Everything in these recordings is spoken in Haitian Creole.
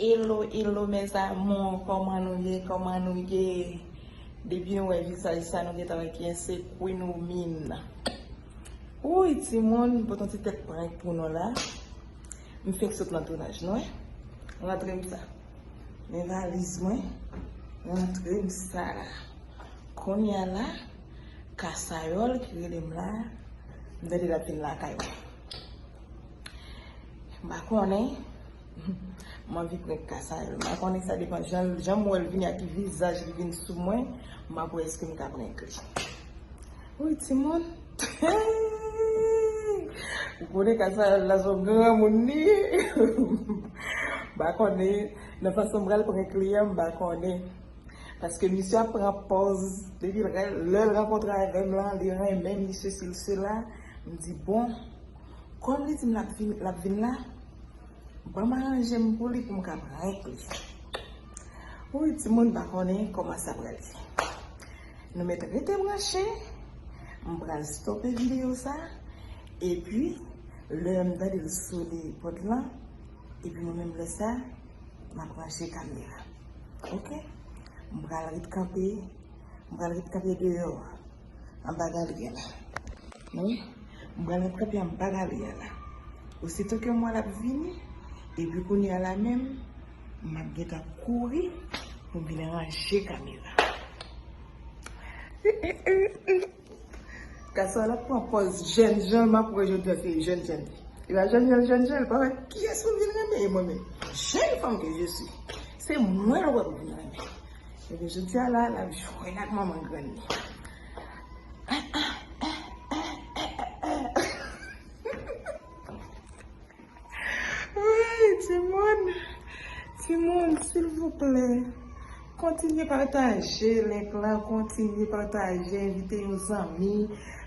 Hello hello mes amours koman nou ye koman nou ye depi nou wè vizaj sa nou gentan wè kiyès se Queen Oumine wouyy timoun m pot yon ti tèt prank pou nou la m fenk sot nan tounaj nou wè m rantre m sa men valiz mwen m rantre m sa kounya la kasayòl ki rele m la m tande lap vin lakay mwen m pa konnen M anvi prank ka sa yo. M pa konnen sa depan jan m wè l vini a ki vizaj li vin sou mwen. M ap wè èske m ka prank li. Woy timoun. Ou konnen ka sa yo la son granmoun li ye. M pa konnen nan fason m pral prank li an m pa konnen. Paske misye ap pran pòz depi l lè l rankontre avè m lan li renmen m li sesi li sela. M di bon kòm li di m l ap vin la. Banm aranjem pou li poum ka prank li. Wouyy timoun pa konnen koman sa pral ye. Nou met rete branche, m pral stope video sa, epi lè m tande l sone pot lan, epi mwen menm lè sa map range kamera ok. M pral ret kanpe, m pral ret kanpe deyò. An ba Gabriel la. Wi, m pral antre pye an ba Gabriel la. Ositou ke m wè l ap vini, epi kounye a la menm, m ap gen tan kouri pou m vin ranje kamera. Gason an l ap pran pòz jèn jan l, m ap wè jèn jan l se jèn jan l ye. Li va jèn jan l, jèn jan l, pa wè kiyès pou m vin renmen e mwen menm. Jèn fanm ke je suis, se mwen l wè pou m vin renmen. Ebyen jodi a la lap jwenn ak manman grann li. Wouyy timoun, timoun silvouplè kontinye pataje link la, kontinye pataje envite yon zanmi,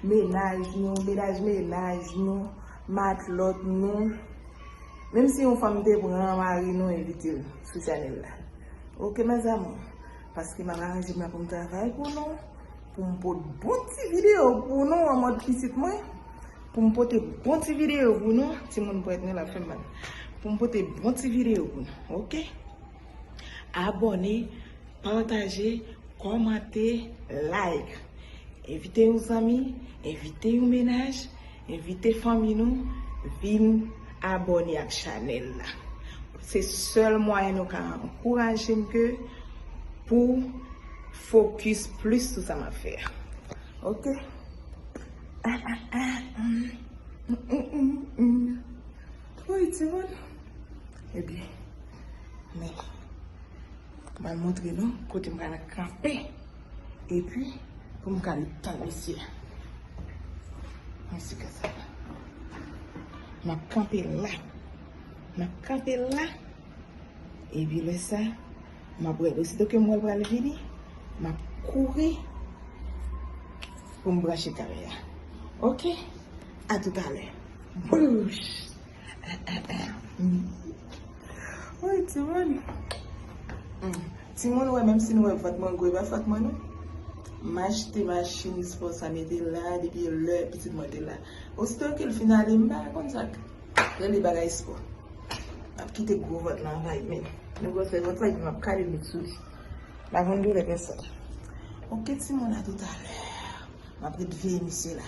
menaj nou, menaj menaj nou, matlòt nou, menm si yon fanm te pran mari nou envite l. Sou channel la ok mes amours paske map aranjem la poum travay pou nou poum pot bon ti video pou nou an mòd pitit mwen poum pote bon ti video pou nou timoun pwèt mwen la fèm mal poum pote bon ti video pou nou ok abone pataje kòmante like envite yon zanmi envite yon menaj Envite fanmi nou vin abòne ak chanèl la. Se sèl mwayen nou ka ankouraje m ke pou fokis plis sou sa m ap fè a. Ok. Ah ah ah humm humm humm humm Woy timoun Ebyen men M al montre nou kote m pral kanpe. Epi pou m ka li tan misye. An si ka sa. M ap kanpe la. M ap kanpe la. Epi lè sa. M ap wè. Osito ke m wè l pral vini. M ap kouri. Pou m branche kare a. Ok. A toutalè. Bouch. Woy timoun Timoun wè menm si nou wè vant mwen gwo epa fòt mwen non M achte machin espò sa mete la depi lè pitit mwen te la Osito ke l fin ale m pa konn sa k rele bagay espò M ap kite gwo vant lan anvayi men Nou wè fè vant lan epi m ap kale met sou li M pa konn doulè pèsòn Ok timoun a toutalè M ap ret veye misye la.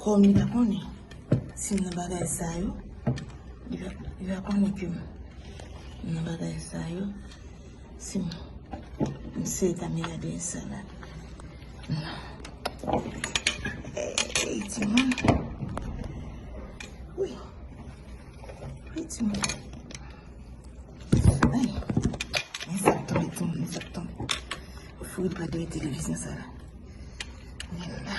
Kom li pa konnen, si m nan bagay sa yo, li va konnen ke m nan bagay sa yo. Sim misye ta mena de sa la. Ey ti moun. Ui. Ui ti moun. Ay. Men sa ton ton men sa ton. Fou pa de televizyon sa la. Men la.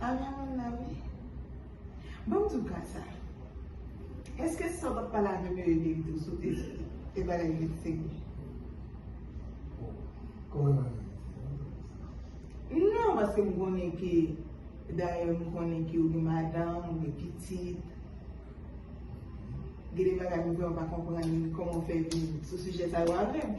A la la la wi. Bon m di w ka sa. Eske sa w pa t pale avè m yo e byen di w sou te bagay li t se vre? Kòman nan li te? Non paske m konnen ke dayè m konnen ke ou gen madanm, ou gen pitit. Gen de bagay m kwè ou pa konprann kòman w fè vin sou sijè sa yo avè m.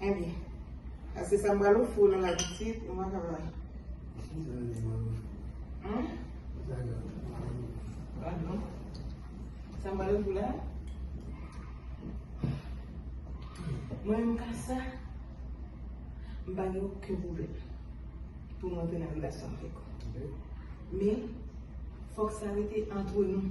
Andy. Ase sa m pral ofri w nan lavi ti, ou pa ka bay. Hum? Ba non. Sa m pral ofri w la? Mwen menm ka sa, m pa gen oken pwoblèm pou m antre nan relasyon avèk ou. Men, fòk sa rete antre nou.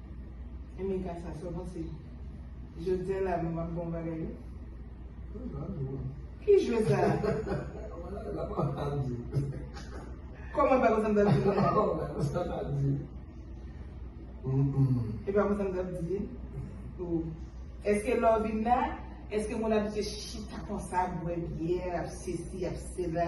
Emeka sa sou bon se jodia la nou map bon bagay wi. Ki jwe sa? Koman pa konsa m tap di nou la? E pa konsa m tap di? Eske lè w vin la, eske moun abitye chita konsa bwè byè, ap sesi, ap sela?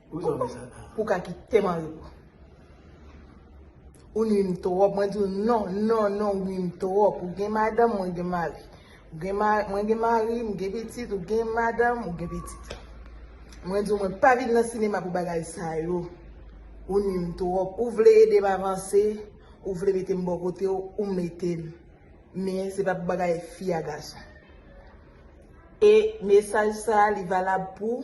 Pou zòrèy sa la. Pou ka kite mari w. Ou nwi m twòp. Mwen di w non, non, non ou nwi m twòp. Ou gen madanm, mwen gen mari. Mwen gen mari, m gen pitit, ou gen madanm, ou gen pitit. Mwen di w mwen pa vin nan sinema pou bagay sa yo. Ou nwi m twòp. Ou vle ede m avanse, ou vle mete m bò kote w, ou mete m. Men se pa pou bagay fi a gason. E mesaj sa li valab pou.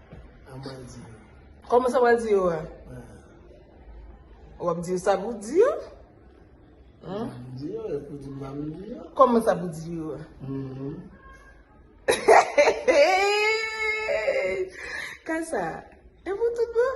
Kòman sa wè di yo wè? Wap di yo sa pou di yo? Kòman sa pou di yo wè? Kasa, e pou tout bon?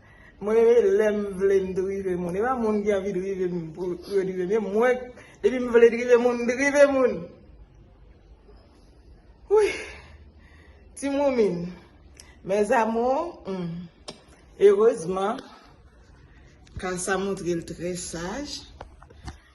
Mwen lèm vle m drive moun epa moun ki anvi drive m pou yo drive m yo mwen depi m vle drive moun m drive moun wouyy ti moumine mes amours humm erezman ka sa montre l trè saj.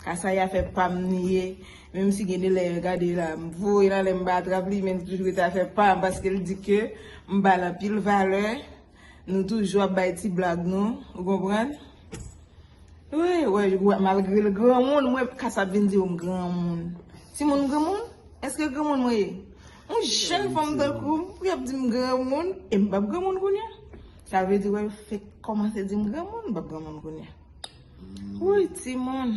Kasaya fè pam li ye menm si gen de lè gade la m voyel ale m pa atrap li men li toujou rete afè pam paske l di ke m bal anpil valè nou toujou ap bay ti blag nou ou konprann wi wè malgre l granmoun mwen kasa ap vin di m granmoun timoun granmoun eske granmoun mwen ye yon jèn fanm tankou m pou y ap di m granmoun e m pap granmoun kounye a sa vle di wè l fenk kòmanse di m granmoun m pap granmoun kounye a. Wouyy timoun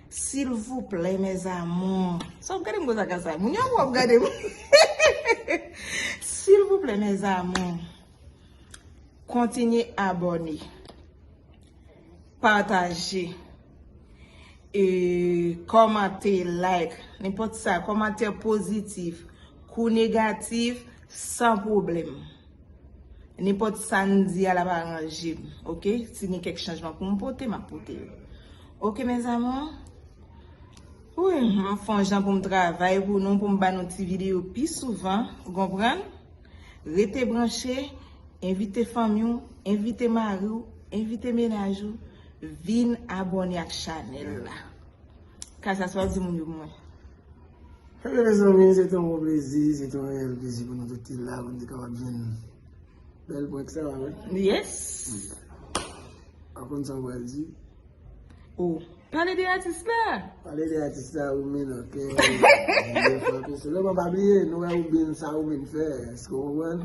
silvouplè mes amours sa wap gadem konsa kasa moun yo wap gadem silvouplè mes amours kontinye abone pataje e komante like nenpòt sa komantè pozitif kou negatif san problèm. Nenpòt sa n di a l ap aranje m ok si gen kèk chanjman pou m pote m ap pote yo ok mes amours Wouyy m ap fon jan pou m travay pou nou pou m ba nou ti videyo pi souvan ou konprann rete branche envite fanmi w envite mari w envite menaj ou vin abòne ak chanèl la ka sa sa w di moun yo pou mwen. Hello mezanmi, se te yon gwo plezi, se te yon reyèl plezi pou nou tout te la, pou nou te kapab jwenn bèl prank sa a, wi. Yes! Pa konn sa ou pral di? Oh, pale de atis la! Pale de atis la ou menn ok. Sèlman pa bliye, nou wè ou byen sa ou menn fè, èske ou konprann?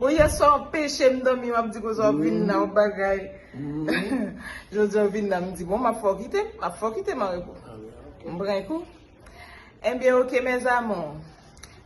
Bon yèswa wap peche m domi wap di kouzwa wap vin la wap bagay Jodi wap vin la m di bon map fè w kite m map fè w kite m anrepo m pran yon kou Ebyen ok mes amours.